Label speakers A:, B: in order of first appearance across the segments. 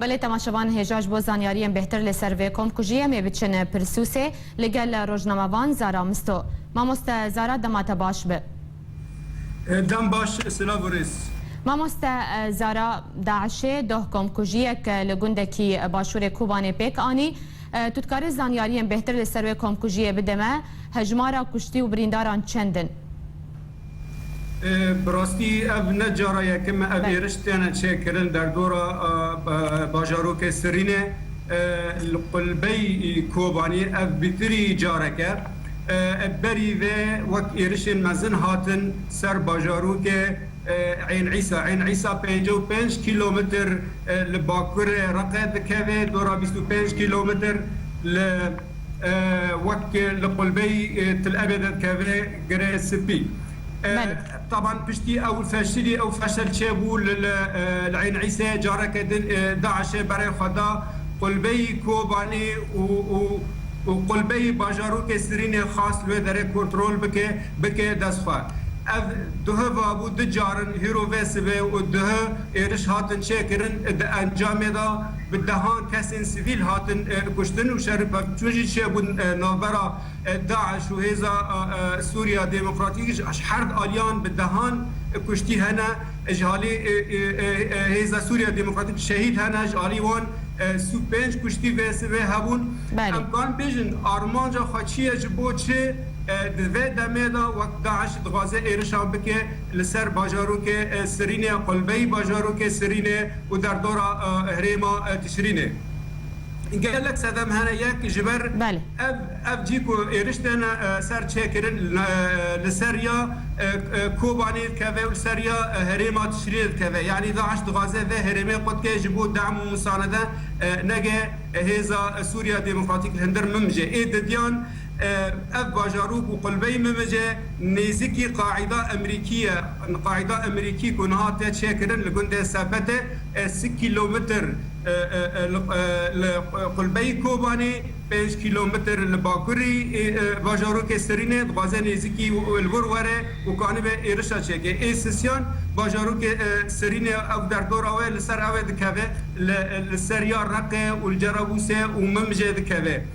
A: Belê temaşevan hêja ji bo zanyariyên bêhtir li ser vê komkujiyê em ê biçin Pirsûsê li gel rojnamevan Zara Misto. Mamoste Zara dema te baş bi.
B: Dem baş silav û rêz. Mamoste
A: Zara DAIŞ'ê doh komkujiyek li gundekî başûrê Kûbanê pêk anî. Tu dikarî zanyariyên bêhtir li ser wê komkujiyê bidê me? Hejmara kuştî û birîndaran çend in?
B: Bi rastî ev ne cara yekim e ev êriş têne çêkirin derdora bajarokê Sirînê. Li qulbey Kobanî ev bîtirî carek e. Berî vê wek êrişên mezin hatin ser bajarokê Eyn Îsa. Eyn Îsa pêncî û pênc kîlometr li bakurê Reqê dikeve, dora bîst û pênc kîlometr li. Wek li qulbeyî Til Ebê de dikeve Girê Spî. Taban piştî ew feşilî ew feşel çêbû li li Eyn Îsê careke din DAIŞ'ê berê xwe da qulbeyî Kobanê û û û qulbeyî bajarokê Sirînê xwest li wê derê kontrol bike bike dest xwe. Ev duhe vabû du carin hîro vê sibê û duhe êriş hatin çêkirin di encamê de, bi dehan kesên sivîl hatin kuştin û şer û pevçûn jî çêbûn navbera DAIŞ û Hêza Sûriya Demokratîk ji her aliyan bi dehan kuştî hene ji alî Hêza Sûriya Demokratîk şehîd hene ji alî wan sî û pênc kuştî vê sivê hebûn em karin bêjin armanca xwe çi ye ji bo çi di vê demê de wek DAIŞ dixwaze êrişan bike li ser bajarokê Sirînê ya qulbeyî bajarokê Sirînê û derdora herêma Tişrînê gelek sedem hene yek ji ber ev cî ku êriş tên ser çêkirin li ser ya Kobanê dikeve û li ser ya herêma Tişrînê dikeve yanî DAIŞ dixwaze vê herêmê qutke ji bo dem û musanede nege hêza Sûriya Demokratîk li hundir mim jê ê didiyan Ev bajarok û qulbeyî Mimice nêzikî Qaîda Emerîkî ye. Qaîda Emerîkî ku niha tê çêkirin li gundê Sepetê e si kîlometr li qulbeyî Kobanê, pênc kîlometr li bakurî bajarokê Sirînê dixwaze nêzikî li wir were û kanibe êrişa çêke. Ê sisyan bajarokê Sirînê ew derdora we li ser ew ê dikeve li ser ya Reqê û li Cerabûsê û Mimicê dikeve.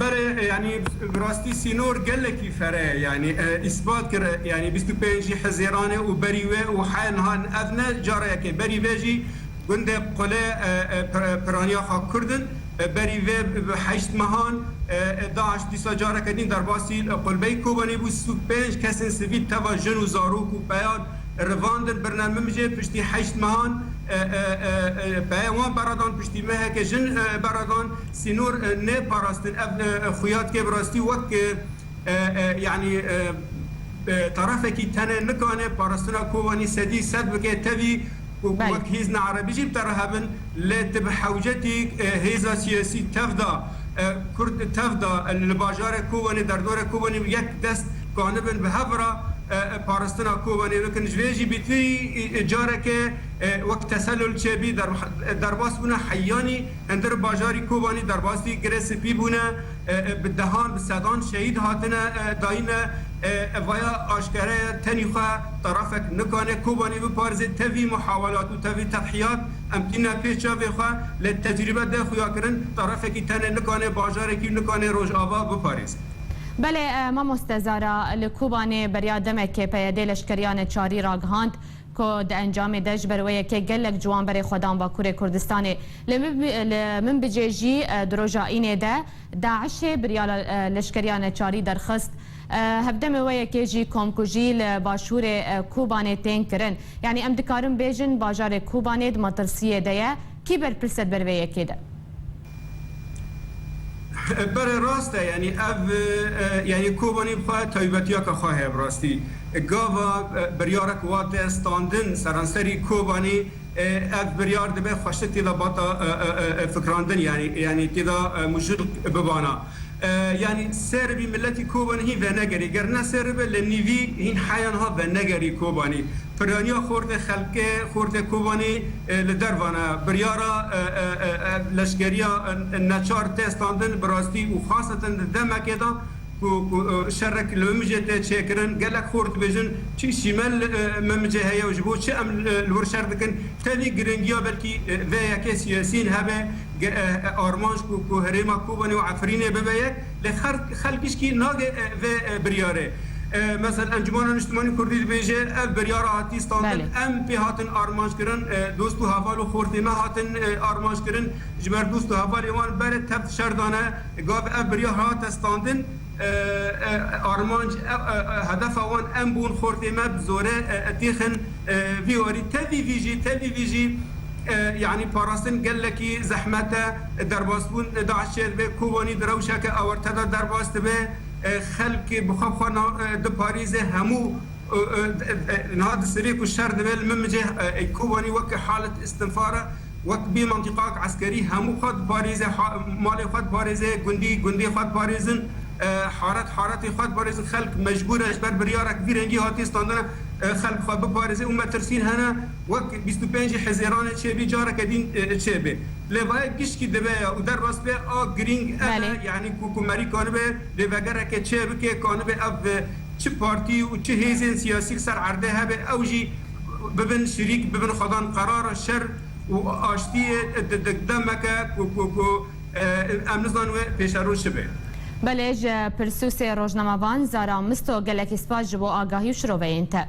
B: Bere yanî bi rastî sînor gelekî fere yanî îspat kir yanî bîst û pênc jî Hezêran e û berî wê û heya niha ev ne cara yek e berî vê jî gundê Qule piraniya xwe Kurd in berî vê bi heşt mehan DAIŞ dîsa careke din derbasî Qulbeyî Kobanê bû sî û pênc kesên sivîl teva jin û zarok û peyan Rivandin birna mimjê piştî heşt mehan peyê wan beradan piştî meheke jin beradan sînor nêparastin ev xuya dike bi rastî wek yanî tarafekî tenê nikane parastina Kobanî sedî sed bike tevî ku wek hêzna erebî jî bite reha bin lê ti bi hewcetî hêza siyasî tevda Kurd tevda li bajarê Kobanî derdora Kobanî yek dest Ku anibin bi hev re paristina kovenê bikin. Ji vê jî bîtwî careke wek teselul çêbî derbas bûne heyanî hindir bajarî kovanî derbasî Girê Sipî bûne. Bi dehan bi sedan şehîd hatine dayine. Vaya aşkere ye tenî xwe tarafek nikane kovanî biparizê. Tevî muhawelat û tevî tedhîyat em tîne pê çavê xwe lê tecrîbe dê xuyakirin tarafekî tenê nikane bajarekî û nikane rojava biparêze. Belê
A: mamoste Zara, li Kobanê beriya demekê peyedê leşkeriyane çarî ragihand ku di encamê de ji ber wê yekê gelek ciwan berê xwe dan Bakurê Kurdistanê. Li li min bicê jî di roja Înê de DAIŞ'ê biriya leşkeriyane çarî derxist. Hevdemê wê yekê jî komkujî li başûrê Kobanê tên kirin. Yanî em dikarin bêjin bajarê Kobanê di metirsiyê de ye. Kî berpirs e di ber vê yekê de?
B: Bere rast e yanî ev yanî kobanî xwe taybetiyaka xwe heye bi rastî. Gava biryarek wate standin seranserî kobanî ev biryar dibe xweştir têda bata fikrandin yanî têda mijûl bibana. Yanî ser bî miletî Kobanî hîn venegerî, ger ne ser be li nîvî hîn heya niha venegerî Kobanî. Piraniya xortê xelkê, xortê Kobanî li dervan e. Biryara leşkeriya neçar tê standin bi rastî û xaseten di demekê de ku şerek li Memicê tê çêkirin. Gelek xort dibêjin çi şîme li Memicê heye û ji bo çi em li wir şer dikin. Tevî giringiya belkî vê yekê siyasî hebe. armanc ku ku herêma Kobanê û Efrînê bibe ye lê xelk hişkî nage vê biryarê. Mesel Encumana Niştimanî Kurdî dibêje ev biryara hatî standin em pê hatin armanckirin dost û heval û xortê nehatin armanckirin ji ber dost û hevalê wan berê tevt şerdane gav ev biryar hate standin. Armanc hedefa wan em bûn, xortê me bi zore têxin vî warî. Tevî vî jî, tevî vî jî yanî parastin gelekî zehmet e. Derbasbûn DAIŞ çê dibe, Kobanî di rewşeke awarte de derbas dibe. Xelk bi xwe bi xwe diparêze, hemû niha di sivê ku şer dibe li min bicih. Kobanî weke halet istinfar e. wek bî mentiqak eskerî hemû xwe diparêze, malê xwe diparêze, gundî gundê xwe diparêzin, haret haretê xwe diparêzin, xelk mecbûr e ji ber biryarek vî rengî hatiye standina xelk xwe biparêze û metirsîn hene wek bîst û pêncî hezêranê çêbî careke dîn çêbê. Lêvayek giştî dibe ya û derbas be a girîng ev e yanî ku komarî kanibe lêvegereke çêbike, kanibe ev çi partî û çi hêzên siyasî li ser erdê hebe ew jî, bibin şirîk bibin xwedan qerara şer û aştiyê didik demeke ku ku ku em nizanin wê pêşerû çi be. Belê ji
A: pirsûsê rojnamevan Zara Misto gelekî spas ji bo agahî û şiroveyên te.